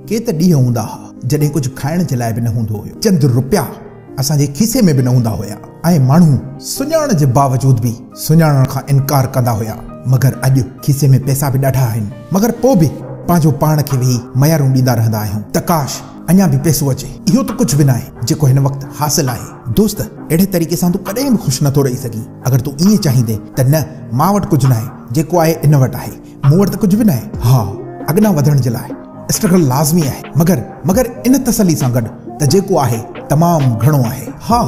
ڪي ته ڏينهن هوندا ها جڏهن ڪجهه کائڻ جي لاء به نه هوندو هيو. چند روپيا اسان جي کيسي ۾ به نه هوندا هيا ۽ ماڻهو سڃاڻڻ جي باوجود به سڃاڻڻ کان انڪار ڪندا هيا مگر اڄ کيسي ۾ پئسا به ڏاڍا آهن مگر پوء به پنهنجو پاڻ کي ويهي ميارون ڏيندا رهندا آهيون ته ڪاش اڃا به پئسو اچي اهو ته ڪجهه به ناهي جيڪو هن وقت حاصل آهي. دوست اهڙي طريقي سان تون ڪڏهن به خوش نٿو رهي سگهين اگر تون ائين چاهيندين ته نه مان وٽ ڪجهه ناهي جيڪو آهي ان وٽ آهي مون وٽ ته ڪجهه به ناهي. ها، اڳنا وڌڻ جي لاء اسٽرگل لازمي آهي، مگر، مگر ان تسلي سان گڏ ته جيڪو آهي تمام گهڻو آهي. ها،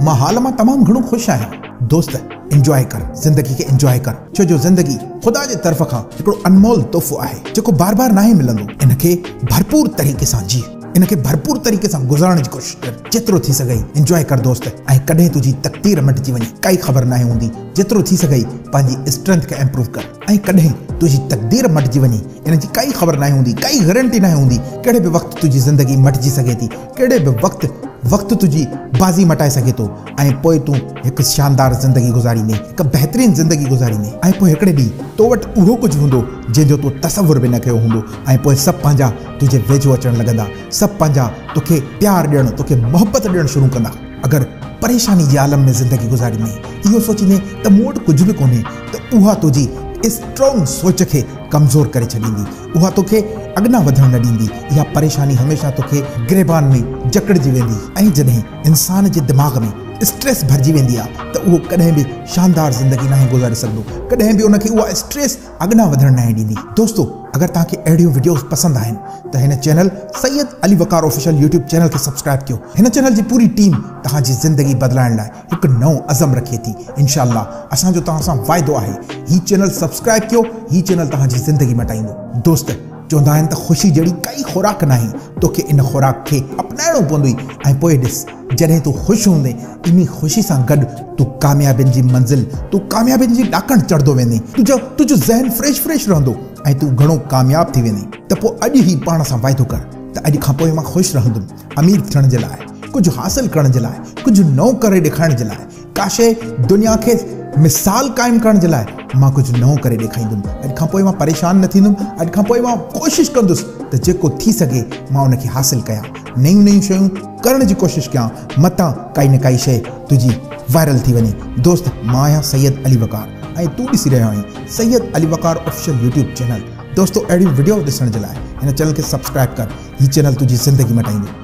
مان حال مان تمام گهڻو خوش آهيان. دوست، انجواء ڪر، زندگي کي انجواء ڪر، ڇو جو زندگي خدا جي طرف کان هڪڙو انمول تحفو آهي، جيڪو بار بار ناهي ملندو. ان کي ڀرپور طريقي سان جيء، ان کي ڀرپور طريقي سان گذارڻ جي ڪوشش ڪر، جيترو ٿي سگهئي انجواء ڪر دوست ۽ ڪڏهن تنهنجي تقدير مٽجي وڃي، ڪائي خبر ناهي هوندي. جيترو ٿي سگهئي پنهنجي اسٽرينٿ کي امپروو ڪر. ۽ ڪڏهن تنهنجي تقدير مٽجي وڃي ان جي ڪائي خبر ناهي هوندي ڪائي گرنٽي ناهي هوندي ڪهڙي به وقت تنهنجي زندگي مٽجي سگهي ٿي ڪهڙي به وقت وقت تنهنجي بازي مٽائي سگهي ٿو ۽ پوء تون هڪ شاندار زندگي گذاريندين هڪ بهترين زندگي گذاريندين ۽ پوء هڪڙي ڏينهن تو وٽ اهو ڪجهه هوندو جنهن جو تو تصور به نه ڪيو هوندو ۽ پوء سڀ پنهنجا تنهنجي ويجهو اچڻ لڳندا سڀ پنهنجا توکي پيار ڏيڻ توکي محبت ڏيڻ شروع ڪندا. اگر پريشاني جي عالم ۾ زندگي گذاريندين، اهو سوچيندين ته مون وٽ ڪجهه به ڪونهي ته اها تنهنجي اسٽرانگ سوچ کي ڪمزور ڪري ڇڏيندي، اها توکي اڳنا وڌڻ نه ڏيندي، اها پريشاني هميشه توکي گريبان ۾ جڪڙجي ويندي ۽ جڏهن انسان جي دماغ ۾ اسٽريس ڀرجي ويندي آهي ته اهو ڪڏهن به شاندار زندگي ناهي گذاري سگهندو، ڪڏهن به ان کي اها اسٽريس اڳڏان وڌڻ ناهي ڏيندي. دوستو اگر توهان کي اهڙيون وڊيوز پسند آهن ته هن channel Syed Ali Waqar official YouTube channel کي سبسڪرائيب ڪيو هن چينل جي پوري ٽيم توهان جي زندگي بدلائڻ لاء هڪ نئون عزم رکي ٿي انشاء الله اسان جو توهان سان واعدو آهي هي چينل سبسڪرائيب ڪيو هي چينل توهان جي زندگي مٽائيندو دوست چوندا آهن ته خوشي جهڙي ڪائي خوراڪ ناهي، توکي ان خوراڪ کي اپنائڻو پوندئي ۽ پوء ڏس، جڏهن تون خوش هوندين، انهي خوشي سان گڏ تون ڪاميابين جي منزل، تون ڪاميابين جي ڏاڪڻ چڙهندو ويندين، تنهنجو تنهنجو ذهن فريش فريش رهندو ۽ تون گهڻو ڪامياب ٿي ويندين. ته پوء اڄ ئي پاڻ سان واعدو ڪر ته اڄ کان پوء مان خوش رهندم، امير ٿيڻ جي لاء، ڪجهه حاصل ڪرڻ جي لاء، ڪجهه نئون ڪري ڏيکارڻ جي لاء، ڪا شيء دنيا کي مثال قائم ڪرڻ جي لاء مان ڪجهه نئون ڪري ڏيکاريندم. اڄ کان پوء مان پريشان نه ٿيندم. اڄ کان پوء مان ڪوشش ڪندس ته جيڪو ٿي سگهي مان ان کي حاصل ڪيان. نيون نيون شيون ڪرڻ جي ڪوشش ڪيان. متان ڪائي نه ڪائي شيء تنهنجي وائرل ٿي وڃي. دوست مان آهيان سيد علي وقار ۽ تون ڏسي رهيو آهين Syed Ali Waqar official YouTube channel. دوستو اهڙيون وڊيوز ڏسڻ جي لاء هن چينل کي سبسڪرائب ڪر. هي چينل تنهنجي زندگي مٽائيندو.